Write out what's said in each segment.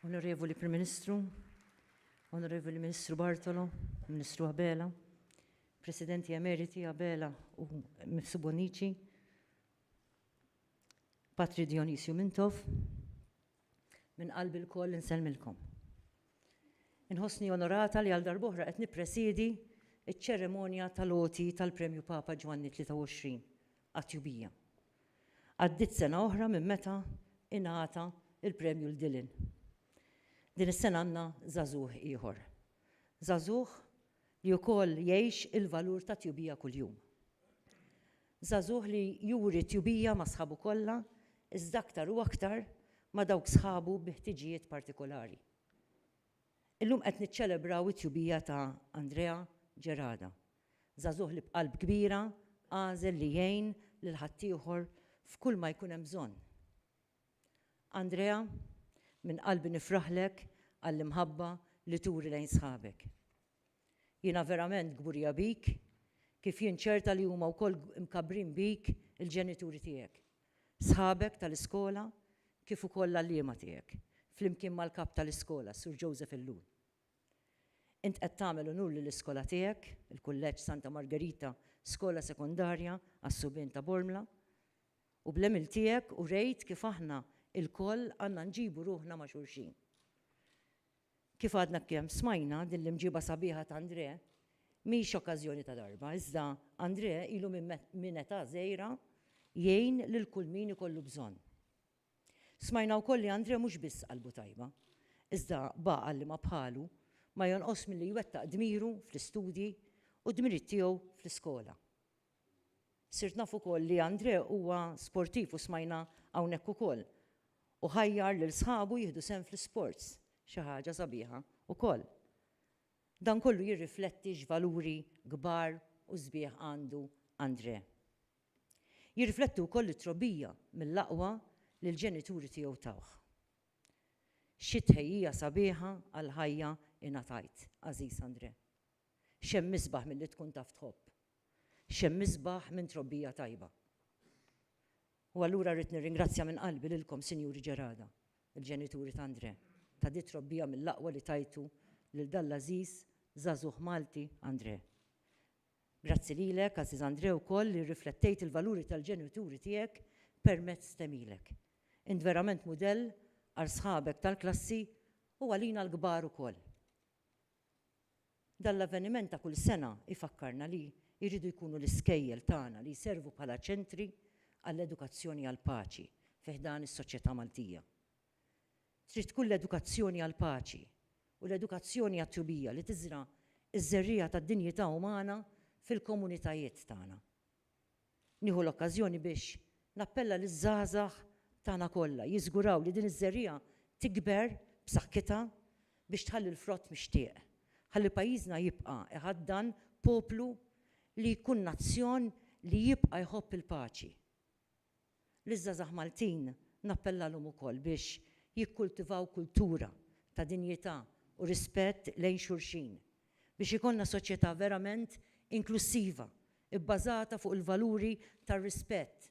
Onorevoli Prim Ministru, Onorevoli Ministru Bartolo, Ministru Abela, Presidenti Emeriti Abela u Mifsu Bonici, Patri Dionisio Mintov, Minn qalbi lkoll insellmilkom. Inħossni onorata li għal darb'oħra qed nippresiedi ċ-ċeremonja tal-għoti tal-Premju Papa Ġwanni 23 għat-Tjubija. Għaddiet sena oħra minn meta ingħata l-premju 'l Dylan. Din is-sena għandna żagħżugħ ieħor. Żagħżugħ li wkoll jgħix il-valur tat-tjubija kuljum. Żagħżugħ li juri tjubija ma' sħabu kollha, iżda aktar u aktar ma' dawk sħabu bi ħtiġijiet partikolari. Illum qed niċċelebraw it-tjubija ta' Andrea Gerada, żagħżugħ li b'qalb kbira għażel li jgħin lil ħaddieħor f'kull ma jkun hemm bżonn. Andrea, minn qalbi nifraħlek għall-imħabba li turi lejn sħabek. Jiena verament kburija bik, kif jien ċerta li huma wkoll imkabbrin bik il-ġenituri tiegħek, sħabek tal-iskola kif ukoll l-għalliema tiegħek, flimkien mal-Kap tal-Iskola, Sur Joseph Ellul. Int qed tagħmel unur lill-iskola tiegħek, il-Kulleġġ Santa Margerita Skola Sekondarja għas-Subien ta' Bormla, u bl-għemil tiegħek urejt kif aħna lkoll għandna nġibu ruħna ma' xulxin. Kif għadna kemm smajna, din l-imġieba sabiħa ta' Andrè mhix okkażjoni ta' darba, iżda Andrè ilu minn età żgħira jgħin lil kull min ikollu bżonn. Smajna wkoll li Andrè mhux biss qalbu tajba, iżda b'għaqal li ma bħalu ma jonqos milli jwettaq dmiru fl-istudji u d-dmirijiet tiegħu fl-iskola. Sirt naf ukoll li André huwa sportiv u smajna hawnhekk ukoll u ħajjar lil sħabu jieħdu sehem fl-isports, xi ħaġa sabiħa ukoll. Dan kollu jirrifletti x'valuri kbar u sbieħ għandu André. Jirrifletti wkoll it-trobbija mill-aqwa li l-ġenituri tiegħu tawh. Xi tħejjija sabiħa għall-ħajja ingħatajt, għażiż André. X'hemm isbaħ milli tkun taf tħobb? X'hemm isbaħ minn trobbija tajba? U allura rrid nirringrazzja minn qalbi lilkom Sinjuri Ġerada, il-ġenituri ta' Andrè, ta' di trobbija mill-aqwa li tajtu lil dan l-għażiż żagħżugħ Malti Andrè. Grazzi lilek, għażiż Andrè, ukoll li rriflettejt il-valuri tal-ġenituri tiegħek permezz t'għemilek. Int verament mudell għal sħabek tal-klassi u għalina l-kbar ukoll. Dan l-avveniment ta' kull sena jfakkarna li jridu jkunu l-iskejjel tagħna li jservu bħala ċentri għall-edukazzjoni għall-paċi fi ħdan is-soċjetà Maltija. Trid tkun l-edukazzjoni għall-paċi u l-edukazzjoni għat-tjubija li tiżra' ż-żerriegħa tad-dinjità umana fil-komunitajiet tagħna. Nieħu l-okkażjoni biex nappella liż-żgħażagħ tagħna kollha jiżguraw li din iż-żerriegħa tikber b'saħħitha biex tħalli l-frott mixtieq, ħalli pajjiżna jibqa' iħaddan poplu li jkun nazzjon li jibqa' jħobb il-paċi. Liż-żgħażagħ Maltin nappellalhom ukoll biex jikkultivaw kultura ta' dinjità u rispett lejn xulxin, biex ikollna soċjetà verament inklussiva, ibbażata fuq il-valuri tar-rispett,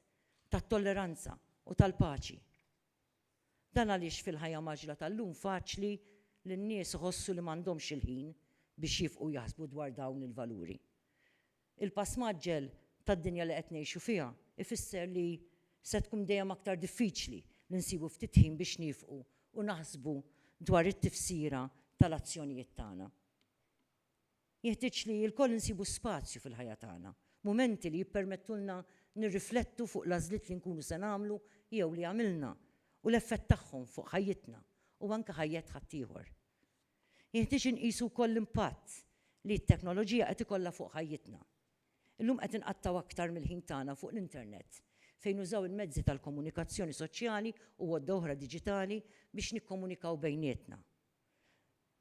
tat-tolleranza u tal-paċi. Dan għaliex fil-ħajja mgħaġġla tal-lum faċli li n-nies iħossu li m'għandhomx il-ħin biex jifqu jaħsbu dwar dawn il-valuri. Il-pass mgħaġġel tad-dinja li qed ngħixu fiha jfisser li se tkun dejjem aktar diffiċli li nsibu ftit ħin biex niefqu u naħsbu dwar it-tifsira tal-azzjonijiet tagħna. Jeħtieġ li lkoll insibu spazju fil-ħajja tagħna, mumenti li jippermettulna nirriflettu fuq l-għażliet li nkunu se nagħmlu jew li għamilna u l-effett tagħhom fuq ħajjitna u anke ħajjet ħaddieħor. Jeħtieġ inqisu wkoll l-impatt li t-teknoloġija qed ikollha fuq ħajjitna. Illum qed inqattgħu aktar mill-ħin tagħna fuq l-internet, fejn nużaw il-mezzi tal-komunikazzjoni soċjali u għodda oħra diġitali biex nikkomunikaw bejnietna.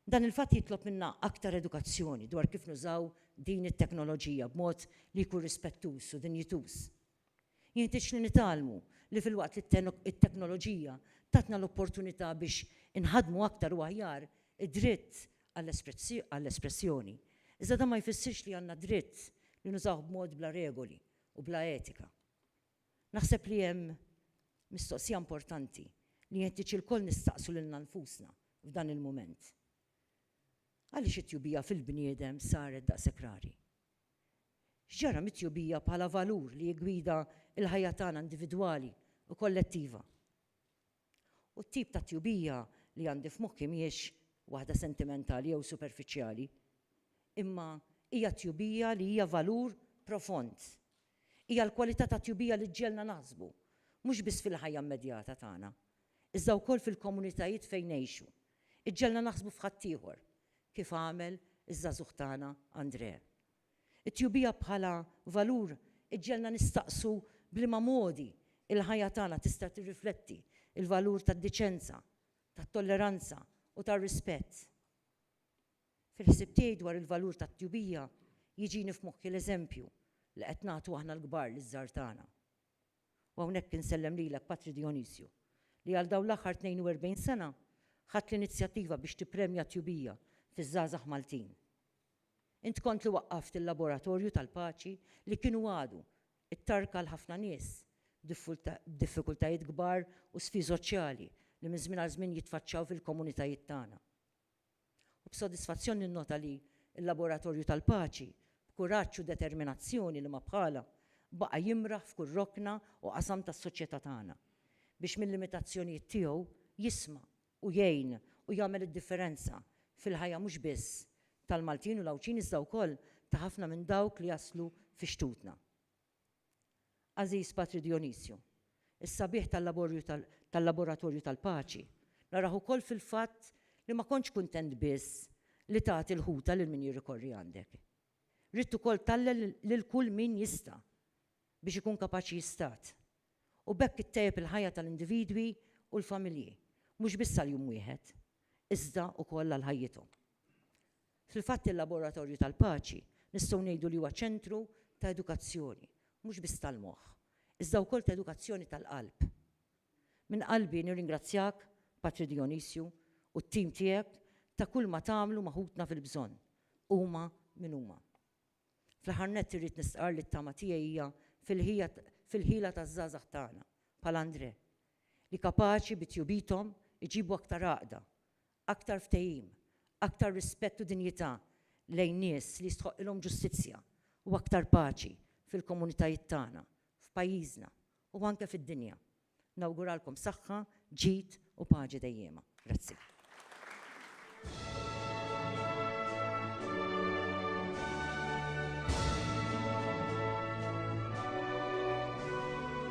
Dan il-fatt jitlob minna aktar edukazzjoni dwar kif nużaw din it-teknoloġija b'mod li jkun rispettuż u dinjituż. Jenħtieġ li nitgħallmu li filwaqt li t-teknoloġija tatna l-opportunità biex inħaddmu aktar u aħjar id-dritt għall-espressjoni, iżda dan ma jfissirx li għandna d-dritt li nużawh b'mod bla regoli u bla etika. Naħseb li hemm mistoqsija importanti li jenħtieġ ilkoll nistaqsu lilna nfusna f'dan il-mument. Għaliex it-tjubija fil-bniedem saret daqshekk rari? X'ġara mit-tjubija bħala valur li jiggwida l-ħajja tagħna individwali u kollettiva? U t-tip ta' tjubija li għandi f'moħħi mhijiex waħda sentimentali jew superfiċjali, imma hija tjubija li hija valur profond. Hija l-kwalità ta' tjubija li ġġegħelna naħsbu, mhux biss fil-ħajja immedjata tagħna, iżda wkoll fil-komunitajiet fejn ngħixu, iġġegħelna naħsbu f'ħaddieħor, kif għamel iż-żagħżugħ tagħna Andrè. It-tjubija bħala valur iġġegħelna nistaqsu b'liema modi l-ħajja tagħna tista' tirrifletti l-valur tad-diċenza, tat-tolleranza u tar-rispett. Fil-ħsieb tiegħi dwar il-valur tat-tjubija jiġini f'moħħi l-eżempju li qed nagħtu aħna l-kbar liż-żgħar tagħna. U hawnhekk insellem lilek Patri Dionisio, li għal dawn l-aħħar 42 sena ħadt l-inizjattiva biex tippremja t-tjubija fiż-żgħażagħ Maltin. Int kont li waqqaft il-Laboratorju tal-Paċi li kien u għadu t-tarka għal ħafna nies b'diffikultajiet kbar u sfii soċjali li minn żmien għal żmien jitfaċċaw fil-komunitajiet tagħna. Hu b'sodisfazzjon ninnota li l-Laboratorju tal-Paċi, b'kuraġġ u determinazzjoni li ma bħalha, baqa' jimraħ f'kull rokna u qasam tas-soċjetà tagħna, biex mil-limitazzjonijiet tiegħu jisma' u jgħin u jagħmel id-differenza fil-ħajja mhux biss tal-Maltin u l-Għawdxin iżda wkoll ta' ħafna minn dawk li jaslu fi xtutna. Għażiż Patri Dijonisju, is-sabiħ tal-laborju tal-laboratorju tal-paċi narah ukoll fil-fatt li ma kontx kuntent biss li tagħti l-ħuta lil min jirrikorri għandek. Ridt ukoll tgħallel lil kull min jista' biex ikun kapaċi jistad, u b'hekk ittejjeb il-ħajja tal-individwi u l-familji, mhux biss għal jum wieħed, iżda ukoll għal ħajjithom. Fil-fatt il-Laboratorju tal-Paċi nistgħu ngħidu li huwa ċentru ta' edukazzjoni, mhux biss tal-moħħ, iżda wkoll ta' edukazzjoni tal-qalb. Minn qalbi nirringrazzjak, Patri Dijonisju, u t-tim tiegħek ta' kulma tagħmlu ma' ħutna fil-bżonn, huma min huma. Fl-aħħar nett irrid nistqarr li t-tama tiegħi hija fil-ħila taż-żgħażagħ tagħna, bħal Andrè, li kapaċi bi tjubithom iġibu aktar għaqda Aktar ftehim, aktar rispett u dinjità lejn nies li jistħoqqilhom ġustizzja u aktar paċi fil-komunitajiet tagħna, f'pajjiżna u anke fid-dinja. Nawguralkom saħħa, ġid u paċi dejjiema. Grazzi.